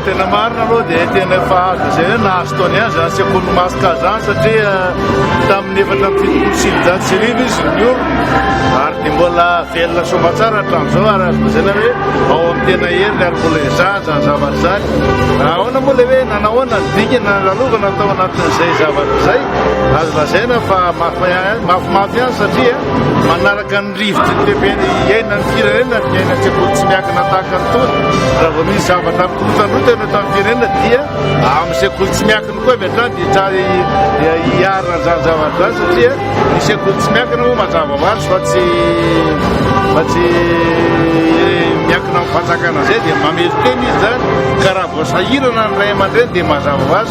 Tena marina aloha dia tena efa azo izay hoe nahazo taony ihany izany sekoly maska izany satria eh, tamin'ny efatra amby fitopolo sy sivinjato sy arivo izy ny olona ary dia mbola velona soa aman-tsara hatramin'izao ary azo lazaina hoe ao amin'ny tena heriny ary mbola izany izany zavatra izany ahoana moa le hoe nanahoana ny dingana nalalovanao tao anatin'izay zavatra izay azo lazaina fa mafy mafy ihany satria eh, manaraka ny Rivotra ny lehibe ny iaina ny firenena ny iaina sekoly tsy miankina tahaka ny tony raha vao misy zavatra mikorotandrota ianao tamin'ny firenena dia amin'ny sekoly tsy miankina koa avy hatrany dia tsara hiarina an'izany zavatra izany satria ny sekoly tsy miankina moa mazava ho azy fa tsy fa tsy miankina amin'ny fanjakana izay dia mamelon-tena izy izany ka raha vao sahirana ny ray aman-dreny dia mazava ho azy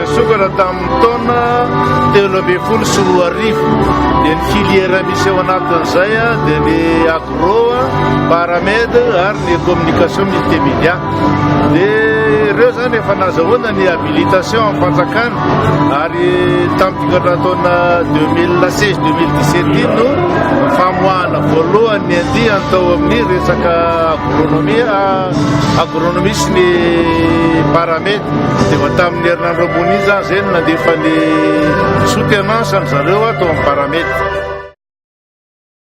Nisokatra tamin'ny taona telo ambin'ny folo sy roa arivo dia ny filière misy ao anatin'izay dia ny agro, paramed ary ny communication multimédia. Dia ireo izany efa nazahoana ny habilitation amin'ny fanjakana ary tamin'ny fikatran-taona 2016 2017 iny no famoahana voalohany ny andiany tao amin'ny resaka agronomie, agronomie sy ny paramed. Dia efa tamin'ny herinandro ambony iny izany izay no nandefa ny souttenance an-dry zareo tao amin'ny Parameta.